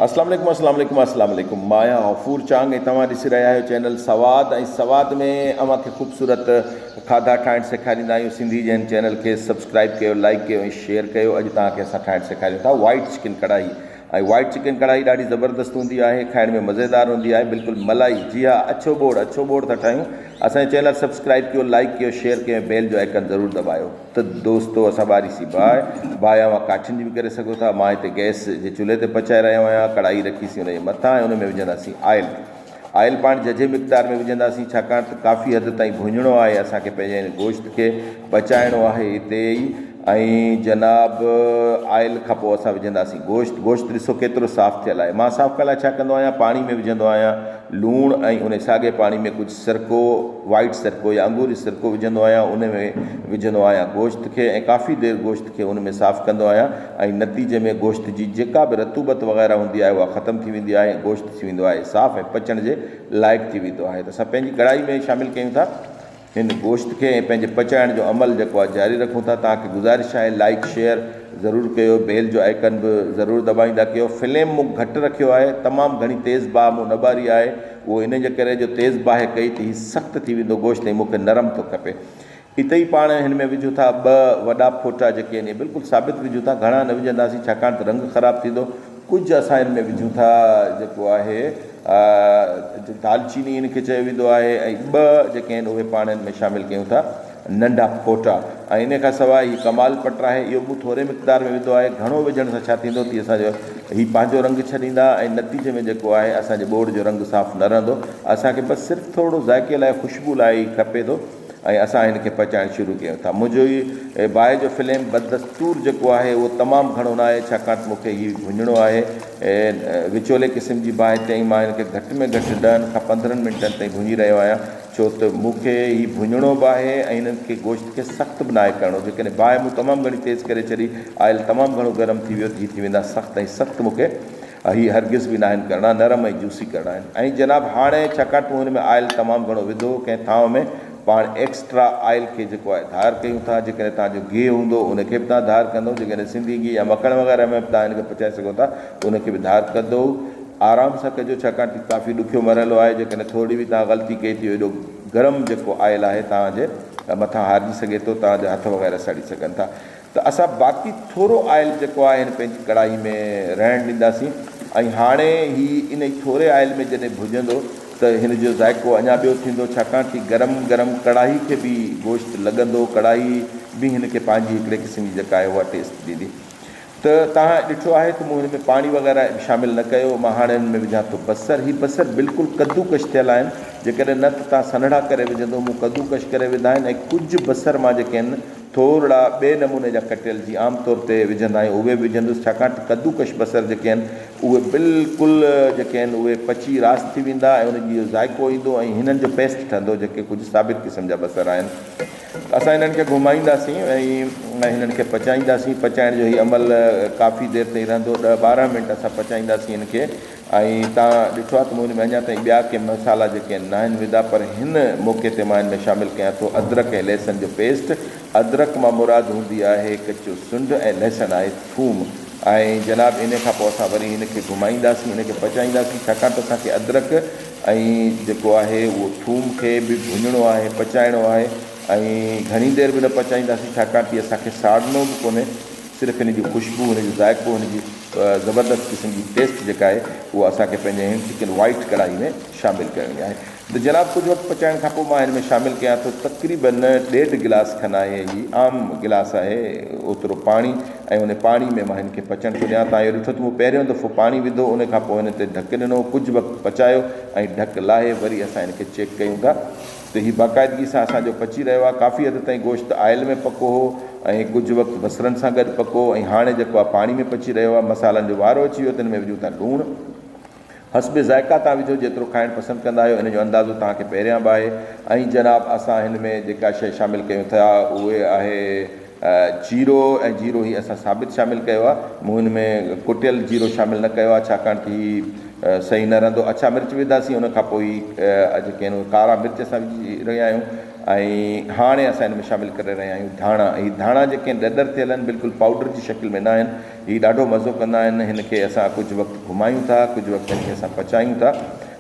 اسلام عليڪم اسلام عليڪم اسلام عليڪم مان آهيان غفور چانگ ۽ توهان ڏسي رهيا آهيو چينل سواد ۽ سواد ۾ اوهان کي خوبصورت کاڌا ٺاهڻ سيکاريندا آهيون سنڌي جين چينل کي سبسڪرائب ڪيو لائڪ ڪيو ۽ شيئر ڪيو اڄ توهان کي اسان ٺاهڻ سيکاريون ٿا white chicken karahi ۽ white chicken karahi ڏاڍي زبردست هوندي آهي کائڻ ۾ مزيدار هوندي آهي بلڪل ملائي جي ها اڇو ٻوڙ اڇو ٻوڙ ٿا ٺاهيون اسان جو چينل سبسڪرائب ڪيو لائڪ ڪيو شيئر ڪيو ۽ بيل جو آئيڪن ضرور دٻايو. ته دوستو اسان ٻاري سي باهه باهه اوهان ڪاٺين جي به ڪري سگهو ٿا مان هتي گئس جي چلهي تي پچائي رهيو آهيان ڪڙاهي رکي سي ان جي مٿان ۽ ان ۾ وجهندا سي آئل آئل پاڻ ججهي مقدار ۾ وجهندا سي ڇاڪاڻ ته ڪافي حد تائين ڀونڄڻو آهي اسان کي پنهنجي هن گوشت کي پچائڻو آهي هتي ئي ۽ جناب آئل کان پوء اسان وجهندا سي گوشت گوشت ڏسو ڪيترو صاف ٿيل آهي مان صاف ڪرڻ لاء ڇا ڪندو آهيان پاڻي ۾ وجهندو آهيان لوڻ ۽ ان ساڳي پاڻي ۾ ڪجهه سرڪو، White Sirco، يا انگوري سرڪو وجهندو آهيان ان ۾ وجهندو آهيان گوشت کي ۽ ڪافي دير گوشت کي ان ۾ صاف ڪندو آهيان ۽ نتيجي ۾ گوشت جي جيڪا به رطوبت وغيره هوندي آهي اها ختم ٿي ويندي آهي ۽ گوشت ٿي ويندو آهي صاف ۽ پچڻ جي لائق ٿي ويندو آهي ته اسان پنهنجي ڪڙاهي ۾ شامل ڪيون ٿا هن گوشت کي ۽ پنهنجي پچائڻ جو عمل جيڪو آهي جاري رکون ٿا توهان کي گذارش آهي لائيڪ شيئر ضرور ڪيو بيل جو آئيڪن به ضرور دٻائيندا ڪيو فليم مون گهٽ رکيو آهي تمام گهڻي تيز باهه مون نه ٻاري آهي اهو ان جي ڪري جو تيز باهه ڪئي ته هي سخت ٿي ويندو گوشت ۽ مون کي نرم ٿو کپي. اتي ئي پاڻ هن ۾ وجهون ٿا ٻه وڏا ڦوٽا جيڪي آهن اهي بلڪل ثابت وجهون ٿا گهڻا نه وجهنداسين ڇاڪاڻ ته رنگ خراب ٿيندو. ڪجهه اسان ان ۾ وجهون ٿا جيڪو آهي دالچيني ان کي چيو ويندو آهي ۽ ٻه جيڪي آهن اهي پاڻ ان ۾ شامل ڪيون ٿا. ننڍا ڦوٽا ۽ انهي کان سواء هي ڪمال پٽ آهي اهو مون ٿوري مقدار ۾ وڌو آهي گهڻو وجهڻ سان ڇا ٿيندو تي اسان جو هي پنهنجو رنگ ڇڏيندا ۽ نتيجي ۾ جيڪو آهي اسان جي ٻوڙ جو رنگ صاف نه رهندو اسان کي بس صرف ٿورڙو ذائقي لاء خوشبو لاء ئي کپي ٿو ۽ اسان هن کي پچائڻ شروع ڪيون ٿا منهنجو هي باهه جو فليم بدستور جيڪو آهي اهو تمام گهڻو نه آهي ڇاڪاڻ ته مون کي هي ڀڃڻو آهي وچولي قسم جي باهه تي ۽ مان هن کي گهٽ ۾ گهٽ ڏهن کان پندرهن منٽن تائين ڀڃي رهيو آهيان ڇو ته مون کي هي ڀڃڻو به آهي ۽ هن کي گوشت کي سخت به ناهي ڪرڻو. جيڪڏهن باهه مون تمام گهڻي تيز ڪري ڇڏي، آئل تمام گهڻو گرم ٿي ويو ته هي ٿي ويندا سخت ۽ سخت مون کي هي هرگز به ناهن ڪرڻا، نرم ۽ جوسي ڪرڻا آهن. ۽ جناب هاڻي ڇاڪاڻ ته مون هن ۾ آئل تمام گهڻو وڌو هو ڪنهن ٿانو ۾ پاڻ ايڪسٽرا آئل کي جيڪو آهي ڌار ڪيون ٿا. جيڪڏهن توهان جو گيهه هوندو ان کي به توهان ڌار ڪندو. جيڪڏهن سنڌي گيهه يا مکڻ وغيره ۾ به توهان هن کي پچائي سگهو ٿا ته ان کي به ڌار ڪندو. آرام سان ڪجو ڇاڪاڻ ته ڪافي ڏکيو مرحلو آهي جيڪڏهن ٿورڙي به توهان غلطي ڪئي ٿي ايڏو گرم جيڪو آئل آهي توهان جي مٿان هارجي سگهي ٿو توهان جا هٿ وغيره سڙي سگهن ٿا ته اسان باقي ٿورو آئل جيڪو آهي هن پنهنجي ڪڙاهي ۾ رهڻ ڏينداسين ۽ هاڻي هي انهي ٿوري آئل ۾ جڏهن ڀڄندو ته هن جو ذائقو اڃا ٻيو ٿيندو ڇاڪاڻ ته گرم گرم ڪڙاهي کي به گوشت لڳندو ڪڙاهي به هن کي پنهنجي هڪڙي قسم جي جيڪا آهي اها ٽيسٽ ڏيندي. ته توهان ڏٺو آهي ته مون هن ۾ پاڻي وغيره شامل نه ڪيو، مان هاڻي هن ۾ وجهان ٿو بصر، هي بصر بلڪل ڪدوڪش ٿيل آهن، جيڪڏهن نه ته توهان سنهڙا ڪري وجهندو، مون ڪدوڪش ڪري وڌا آهن ۽ ڪجهه بصر مان جيڪي هن ٿورڙا ٻئي نموني جا ڪٽيل جي عام طور تي وجهندا آهيون اهي به وجهندس، ڇاڪاڻ ته ڪدوڪش بصر جيڪي آهن اهي بلڪل جيڪي آهن اهي پچي راس ٿي ويندا ۽ انهن جي اهو ذائقو ايندو ۽ هنن جو پيسٽ ٺهندو جيڪي ڪجهه ثابت قسم جا بصر آهن. اسان هنن کي گهمائينداسين ۽ هنن کي پچائينداسين پچائڻ جو هي عمل ڪافي دير تائين رهندو ڏهه ٻارهن منٽ اسان پچائينداسين هن کي ۽ تان ڏٺو آهي ته مون هن ۾ اڃا تائين ٻيا ڪي مصالحا جيڪي آهن ناهن وڌا پر هن موقعي تي مان هن ۾ شامل ڪيان ٿو ادرڪ ۽ لهسن جو پيسٽ ادرڪ مان مراد هوندي آهي ڪچو سنڊ ۽ لهسن آهي ٿوم ۽ جناب انهي کان پوء اسان وري هن کي گهمائينداسين هن کي پچائينداسين ڇاڪاڻ ته اسان کي ادرڪ ۽ جيڪو آهي اهو ٿوم کي به ڀڃڻو آهي پچائڻو آهي ۽ گهڻي دير به نه پچائينداسين ڇاڪاڻ تي اسان کي ساڙڻو به ڪونهي صرف هن جي خوشبو هن جو ذائقو هن جي زبردست قسم جي ٽيسٽ جيڪا آهي اها اسان کي پنهنجي هن چڪن وائيٽ ڪڙاهي ۾ شامل ڪرڻي آهي ته جناب ڪجهه وقت پچائڻ کان پوء مان هن ۾ شامل ڪيان ٿو تقريبن ڏيڍ گلاس کن آهي هي عام گلاس آهي اوترو پاڻي ۽ ان پاڻي ۾ مان هن کي پچڻ ٿو ڏيان. تان اهو ڏٺو ته مون پهريون دفعو پاڻي وڌو، ان کان پوء هن تي ڍڪ ڏنو، ڪجهه وقت پچايو ۽ ڍڪ لاهي وري اسان هن کي چيڪ ڪيون ٿا ته هي باقاعدگي سان اسان جو پچي رهيو آهي. ڪافي حد تائين گوشت آئل ۾ پڪو هو ۽ ڪجهه وقت بصرن سان گڏ پڪو هو ۽ هاڻي جيڪو آهي پاڻي ۾ پچي رهيو آهي. مصالحن جو وارو اچي ويو، تن ۾ وجهون ٿا لوڻ. حسب ذائقه توهان وجهو جيترو کائڻ پسند ڪندا آهيو ان جو اندازو توهان کي پهريان به آهي ۽ جناب اسان هن ۾ جيڪا شئي شامل ڪيون ٿا اهي آهي جيرو ۽ جيرو هي اسان ثابت شامل ڪيو آهي مون هن ۾ ڪٽيل جيرو شامل نه ڪيو آهي ڇاڪاڻ ته هي صحيح نه رهندو اڇا مرچ وڌاسين ان کان پوء اڄ کين ڪارا مرچ اسان وجهي رهيا آهيون ۽ هاڻي اسان هن ۾ شامل ڪري رهيا آهيون ڌاڻا هي ڌاڻا جيڪي ڏڏر ٿيل آهن بلڪل پائوڊر جي شڪل ۾ نه آهن هي ڏاڍو مزو ڪندا آهن، هن کي اسان ڪجهه وقت گهمايون ٿا، ڪجهه وقت هن کي اسان پچايون ٿا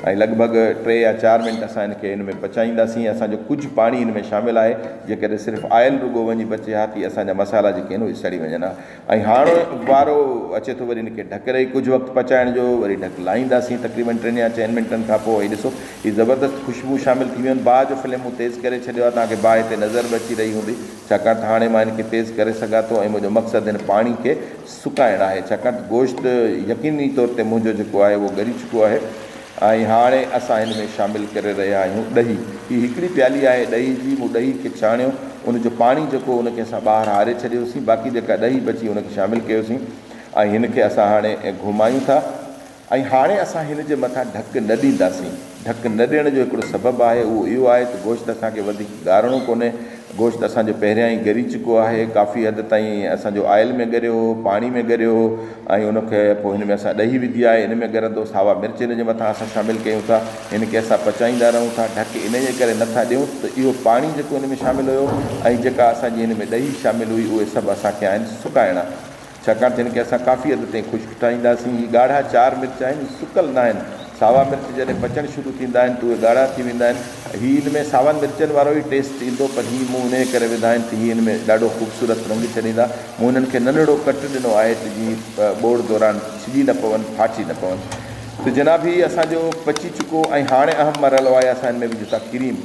۽ لڳ ڀڳ ٽي يا چار منٽ اسان هن کي هن ۾ پچائينداسين، اسان جو ڪجهه پاڻي هن ۾ شامل آهي، جيڪڏهن صرف آئل رڳو وڃي بچي ها تي اسان جا مصالحا جيڪي آهن اهي سڙي وڃن ها ۽ هاڻ وارو اچي ٿو وري هن کي ڍڪ رهي ڪجهه وقت پچائڻ جو وري ڍڪ لاهينداسين تقريبن ٽن يا چئن منٽن کان پوء هي ڏسو هي زبردست خوشبو شامل ٿي ويون باهه جو فليم مون تيز ڪري ڇڏيو آهي توهان کي باهه تي نظر به اچي رهي هوندي. ڇاڪاڻ ته هاڻي مان هن کي تيز ڪري سگهان ٿو ۽ منهنجو مقصد هن پاڻي کي سڪائڻ آهي ڇاڪاڻ ته گوشت يقيني طور تي منهنجو جيڪو آهي اهو ڳري چڪو آهي ۽ هاڻي اسان هن ۾ شامل ڪري رهيا آهيون ڏهي. هي هڪڙي پيالي آهي ڏهي جي، مون ڏهي کي ڇاڻيو، ان جو پاڻي جيڪو هو ان کي اسان ٻاهر هاري ڇڏيوسين، باقي جيڪا ڏهي بچي ان کي شامل ڪيوسين ۽ هن کي اسان هاڻي گهمايون ٿا. ۽ هاڻي اسان هن جي مٿان ڍڪ نه ڏينداسين. ڍڪ نه ڏيڻ جو هڪڙو سبب آهي، اهو اهو آهي ته گوشت اسان کي وڌيڪ ڳارڻو ڪونهي. گوشت اسان جو پهريان ئي ڳري چڪو آهي. ڪافي حد تائين اسان جو آئل ۾ ڳريو هو، پاڻي ۾ ڳريو هو ۽ ان کي پوء هن ۾ اسان ڏهي وڌي آهي، ان ۾ ڳرندو. ساوا مرچ هن جي مٿان اسان شامل ڪيون ٿا، هن کي اسان پچائيندا رهون ٿا. ڍڪ انهيء ڪري نه ٿا ڏيون ته اهو پاڻي جيڪو هن ۾ شامل هيو ۽ جيڪا اسان جي هن ۾ ڏهي شامل هئي، اهي سڀ اسان کي آهن سڪائڻا. ڇاڪاڻ ته هن کي اسان ڪافي حد تائين خشڪ ٺاهينداسين. هي ڳاڙها چار مرچ آهن، هي سڪل ناهن. ساوا مرچ جڏهن پچڻ شروع ٿيندا آهن ته اهي ڳاڙها ٿي ويندا آهن. هي ان ۾ ساون مرچن وارو ئي ٽيسٽ ايندو پر هي مون انهيء ڪري وڌا آهن ته هي هن ۾ ڏاڍو خوبصورت رنگ ڇڏيندا. مون هنن کي ننڍڙو ڪٽ ڏنو آهي ته جيئن هي ٻوڙ دوران ڇڄي نه پون، ڦاٽي نه پون. ته جناب هي اسان جو پچي چڪو ۽ هاڻي اهم مرحلو آهي اسان هن ۾ وجهون ٿا ڪريم،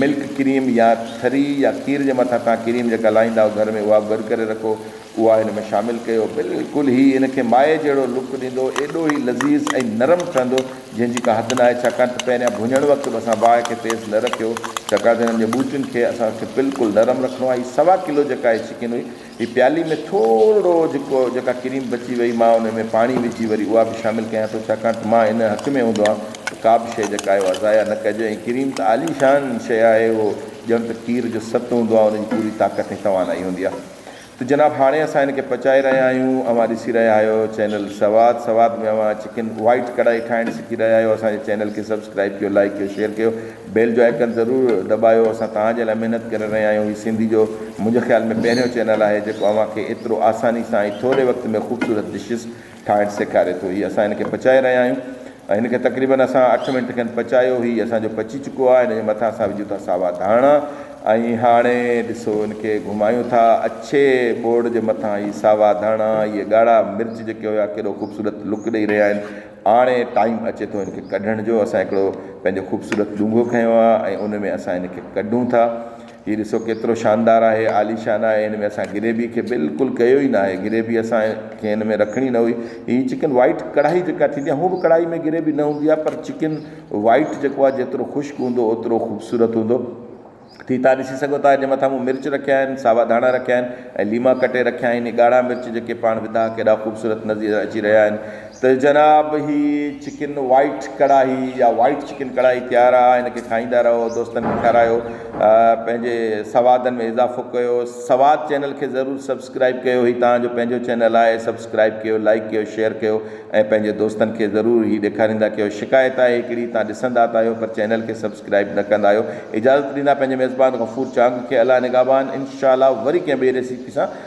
ملڪ ڪريم يا ٿري يا کير جي مٿان توهان ڪريم جيڪا لاهيندا آهيو گهر ۾ اها به گڏ ڪري رکو. اها هن ۾ شامل ڪيو بلڪل هي هن کي مائي جهڙو لڪ ڏيندو ايڏو هي لذيذ ۽ نرم ٺهندو جنهن جي ڪا حد ناهي ڇاڪاڻ ته پهريان ڀڃڻ وقت به اسان باهه کي تيز نه رکيو هو ڇاڪاڻ ته هنن جي ٻوٽين کي اسان کي بلڪل نرم رکڻو آهي هي سوا ڪلو جيڪا هي چڪن هئي هي پيالي ۾ ٿورڙو جيڪو جيڪا ڪريم بچي وئي مان ان ۾ پاڻي وجهي وري اها به شامل ڪيان ٿو ڇاڪاڻ ته مان ان حق ۾ هوندو آهيان ته ڪا به شيء جيڪا آهي اها ضايع نه ڪجي ۽ ڪريم ته عاليشان شيء آهي اهو ڄڻ ته کير جو سٽ هوندو آهي ان جي پوري طاقت ۽ توانائي هوندي آهي. ته جناب هاڻي اسان هن کي پچائي رهيا آهيون اوهان ڏسي رهيا آهيو چينل سواد سواد ۾ اوهان چڪن وائيٽ ڪڙائي ٺاهڻ سکي رهيا آهيو اسان جي چينل کي سبسڪرائيب ڪيو لائيڪ ڪيو شيئر ڪيو بيل جو آئيڪن ضرور دٻايو اسان توهان جي لاء محنت ڪري رهيا آهيون هي سنڌي جو منهنجي خيال ۾ پهريون چينل آهي جيڪو اوهان کي ايترو آساني سان ۽ ٿوري وقت ۾ خوبصورت ڊشز ٺاهڻ سيکاري ٿو هي اسان هن کي پچائي رهيا آهيون ۽ هن کي تقريبن اسان اٺ منٽ کن پچايو هي اسان جو پچي چڪو آهي هن جي مٿان اسان وجهون ٿا ساوا ڌاڻا ۽ هاڻي ڏسو هن کي گهمايون ٿا اڇي ٻوڙ جي مٿان هي ساوا ڌاڻا اهي ڳاڙها مرچ جيڪي هيا ڪيڏو خوبصورت لڪ ڏئي رهيا آهن هاڻي ٽائيم اچي ٿو هن کي ڪڍڻ جو اسان هڪڙو پنهنجو خوبصورت ڏونگهو کنيو آهي ۽ ان ۾ اسان هن کي ڪڍون ٿا هي ڏسو ڪيترو شاندار آهي، عاليشان آهي، هن ۾ اسان گريبي کي بلڪل ڪيو ئي ناهي، گريبي اسان کي هن ۾ رکڻي نه هئي، هي چڪن وائيٽ ڪڙاهي جيڪا ٿيندي آهي هونء به ڪڙاهي ۾ گريبي نه هوندي آهي پر چڪن وائيٽ جيڪو آهي جيترو خشڪ هوندو اوترو خوبصورت هوندو ٿي تان ڏسي سگهو ٿا جي مٿان مون مرچ رکيا آهن، ساوا ڌاڻا رکيا آهن ۽ ليما ڪٽي رکيا آهن، هي ڳاڙها مرچ جيڪي پاڻ وڌاء ڪيڏا خوبصورت نظير اچي رهيا آهن. ته جناب هي چڪن وائيٽ ڪڙاهي يا وائيٽ چڪن ڪڙاهي تيار آ هن کي کائيندا رهو دوستن کي کارايو پنهنجي سوادن ۾ اضافو ڪيو سواد چينل کي ضرور سبسڪرائيب ڪيو هي تهان جو پنهنجو چينل آهي سبسڪرائيب ڪيو لائيڪ ڪيو شيئر ڪيو ۽ پنهنجي دوستن کي ضرور هي ڏيکاريندا ڪيو شڪايت آهي هڪڙي تهان ڏسندا ته آهيو پر چينل کي سبسڪرائيب نه ڪندا آهيو اجازت ڏيندا پنهنجي ميزبان غفور چانگ کي الله نگهبان انشاء الله وري ڪنهن ٻئي ريسيپي سان